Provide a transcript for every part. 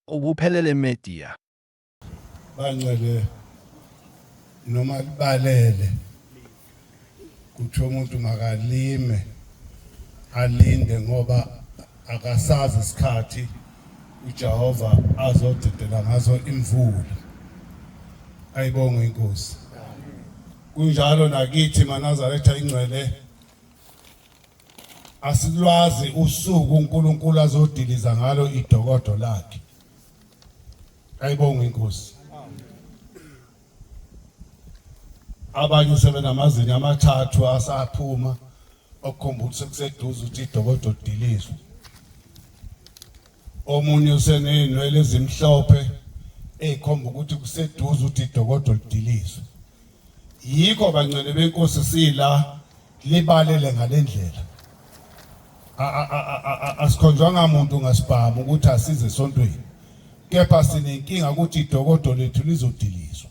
Ubuphelele Media. Bancele noma kubalele kuthiwa umuntu makalime alinde ngoba akasazi isikhathi uJehova azodedela ngaso imvula ayibonge inkosi kunjalo nakithi manazaretha ingcwele asilwazi usuku uNkulunkulu azodiliza ngalo idokodo lakhe ayibonga inkosi abanye sebenamazinyo amathathu asaphuma okukhomba ukuthi sekuseduze ukuthi idokodo dilizwe omunye useney'nwele ezimhlophe ey'khomba ukuthi kuseduze ukuthi idokodo lidilizwe yikho bancane benkosi sila libalele ngalendlela asikhonjwanga muntu ngasibhamu ukuthi asize esontweni kepha sinenkinga ukuthi idokodo lethu lizodilizwa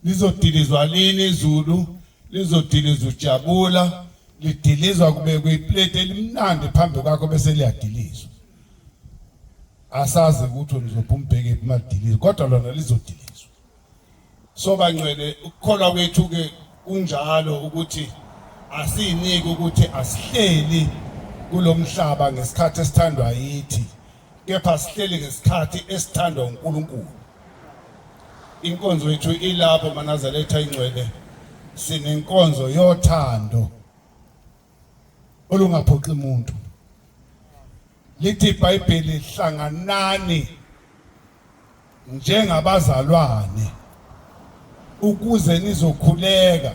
lizodilizwa lini izulu lizodilizwa ujabula lidilizwa kubekwe iplate elimnandi phambi kwakho bese liyadilizwa asazi ukuthi lizophuma ubheke emalidilizwa kodwa lona lizodilizwa so bangcwele ukukholwa kwethu ke kunjalo ukuthi asiniki ukuthi asihleli kulomhlaba ngesikhathi esithandwa yithi kepha sihleli ngesikhathi esithandwa uNkulunkulu inkonzo yethu ilapho manazaletha ingcwele sinenkonzo yothando olungaphoxi muntu lithi iBhayibheli hlanganani njengabazalwane ukuze nizokhuleka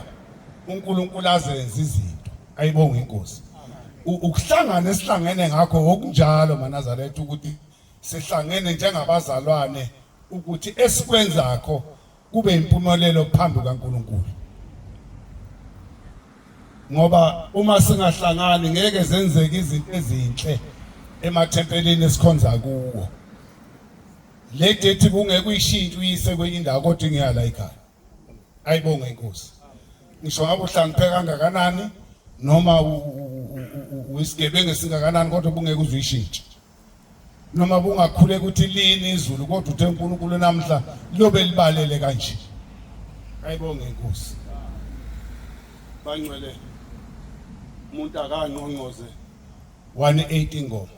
uNkulunkulu azenze izinto ayibonga inkosi ukuhlangana esihlangene ngakho okunjalo manazaretha ukuthi sihlangene njengabazalwane ukuthi esikwenzakho kube impumelelo phambi kaNkulunkulu ngoba uma singahlangani ngeke zenzeke izinto ezinhle emathempelini esikhonza kuwo le date kungeke uyishintshe uyise kwenye indawo kodwa ingeya la ekhaya ayibonge inkosi ngisho ngabe uhlangiphe kangakanani noma uyisigebengu esingakanani kodwa ubungeke uzuyishintshe noma kungakhule ukuthi lini izulu kodwa uthe uNkulunkulu namhla liyobe libalele kanje ayibonge inkosi bangcwele umuntu akangqongqoze 180 ngoma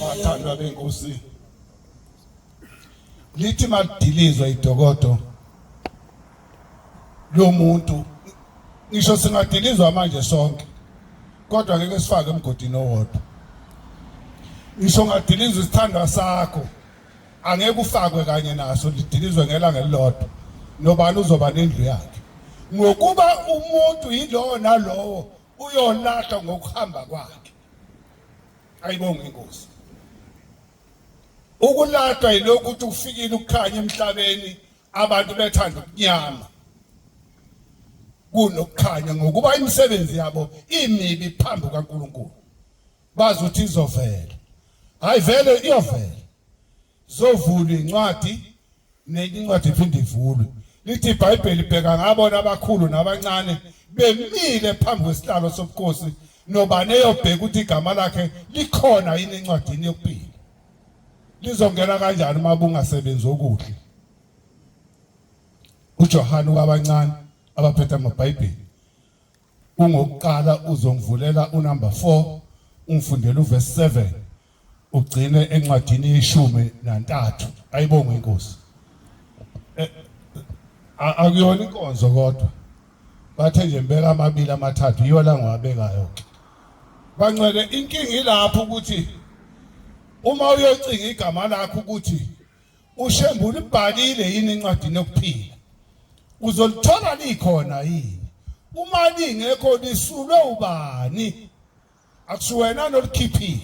Bathandwa benkosi. Lithi madilizwa idokodo lomuntu ngisho singadilizwa manje sonke kodwa ngeke sifake emgodini owodwa ngisho ngadilizwa isithandwa sakho angeke ufakwe kanye naso lidilizwe ngelanga elilodwa nobani uzoba nendlu yakhe ngokuba umuntu yilowo nalowo uyolahlwa ngokuhamba kwakhe ayibonge inkosi ukulatwa yilokhu ukuthi ufikile ukukhanya emhlabeni abantu bethanda ukunyama kunokukhanya ngokuba imisebenzi yabo imibi phambi kaNkuluNkulu bazi ukuthi izovela hayi vele iyovela zovula incwadi nenye incwadi iphinde ivulwe lithi ibhayibheli bheka ngabona abakhulu nabancane bemile phambi kwesihlalo sobukhosi nobani eyobheka ukuthi igama lakhe likhona yini encwadini yokuphila lizongena kanjani uma bungasebenzi okuhle uJohane wabancane abaphethe amabhayibheli Kungokuqala uzongivulela unumber 4 ungifundele uverse 7 ugcine encwadini yeshumi nantathu ayibonge inkosi eh, akuyona inkonzo kodwa bathe nje mbeka amabili amathathu yiyo la ngwabekayo ke bancele inkinga ilapho ukuthi uma uyocinga igama lakho ukuthi uShembe ulibhalile yini incwadi yokuphila uzolithola likhona yini uma lingekho lisulwe ubani akusiwena nolikhiphile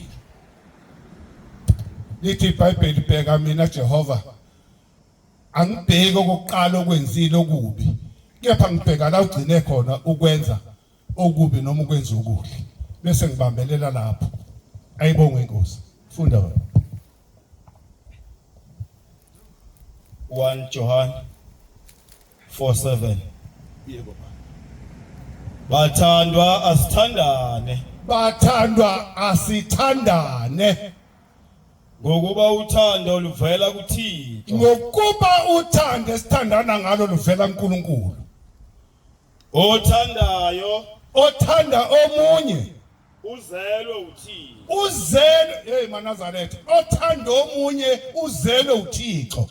lithi ibhayibheli bheka mina Jehova angibheki okokuqala okwenzile okubi kepha ngibheka la ugcine khona ukwenza okubi noma ukwenza okuhle bese ngibambelela lapho ayibonge inkosi funda wena 1 John 4:7 Yebo Bathandwa asithandane bathandwa asithandane ngokuba uthando luvela kuThixo ngokuba uthando esithandana ngalo luvela kuNkulunkulu Othandayo. Othanda omunye. Uzelwe uThixo. Uzelwe hey manazaretha. Othanda omunye uzelwe uThixo.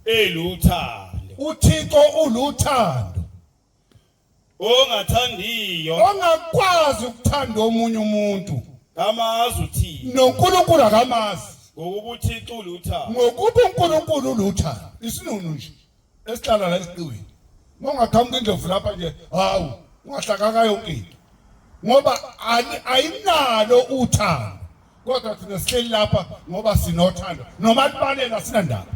Eluthando. UThixo uluthando. Ongathandiyo. Ongakwazi ukuthanda omunye umuntu. Kamazi uThixo. NoNkulunkulu akamazi. Ngokuba uThixo uluthando. Ngokuba uNkulunkulu uluthando. Isinunu nje. esihlala la esiqiwini uma ungaqhamuka indlovu lapha nje hawu ungahlakaka yonke into ngoba ayinalo uthando kodwa thina sihleli lapha ngoba sinothando noma libalela sinandaba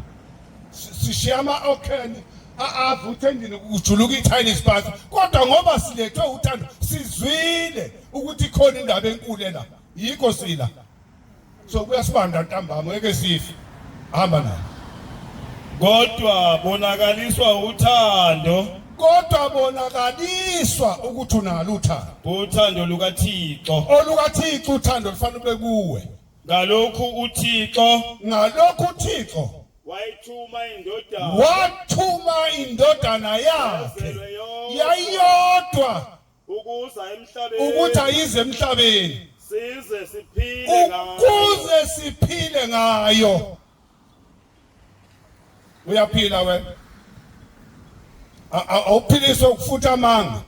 sishiya ama-okheni avuthe endlini kujuluka i-chinese bus kodwa ngoba silethwe uthando sizwile ukuthi ikhona indaba enkulu ela yikho sila so kuyasibanda ntambama ngeke sife hamba naye kodwa bonakaliswa uthando kodwa bonakaliswa ukuthi unalo uthando uthando lukaThixo olukaThixo uthando lufanele ube kuwe ngalokhu uThixo ngalokhu uThixo wayithuma indodana wathuma indodana yakhe yayiyodwa ukuza emhlabeni ukuthi ayize emhlabeni size siphile ngayo ukuze siphile ngayo uyaphila wena awuphiliswe ukufutha amanga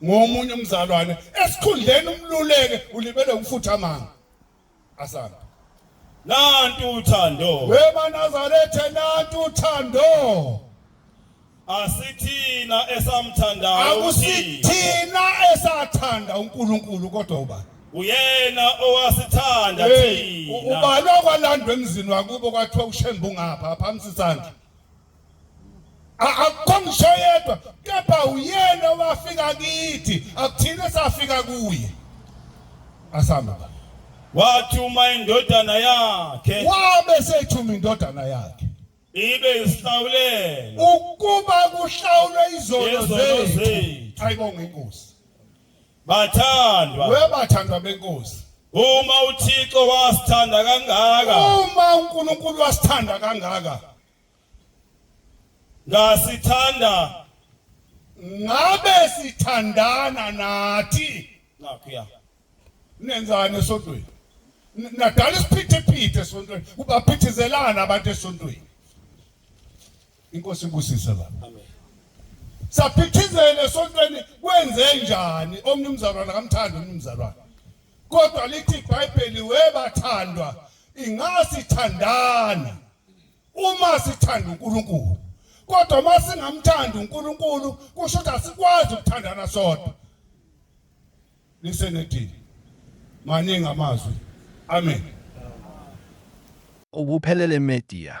ngomunye umzalwane esikhundleni umluleke ulibele ukufutha amanga Asanda. Nantu uthando. Wema Nazaretha nantu uthando. Asithina esamthandayo. Akusithina esathanda uNkulunkulu kodwa ubani? Uyena owasithanda thina. Ubani okwalandwa emzini wakubo kwathiwa ushembu ngapha phamsi isandla. akukho ngisho yedwa kepha uyena owafika kithi akuthina safika kuye asihamba baba wathuma indodana yakhe wabe sethuma indodana yakhe ibe isihlawulelo ukuba kuhlawulwe izono yezono zethu zethu ayibonga inkosi bathandwa webathandwa benkosi uma uthixo wasithanda kangaka uma unkulunkulu wasithanda kangaka Ngasithanda ngabe sithandana nathi nakhuya. Nenzani esontweni? Nadala isiphithiphithi esontweni. Kubaphithizelana abantu esontweni. Inkosi ibusise la. Amen. Saphithizela esontweni kwenze njani omnumzalwana kamthanda omnumzalwana? kodwa lithi iBhayibheli webathandwa ingasithandana Uma sithanda uNkulunkulu kodwa uma singamthandi uNkulunkulu kusho ukuthi asikwazi ukuthandana sodwa. Lisenethini. Maningi amazwi. Amen. Ubuphelele media.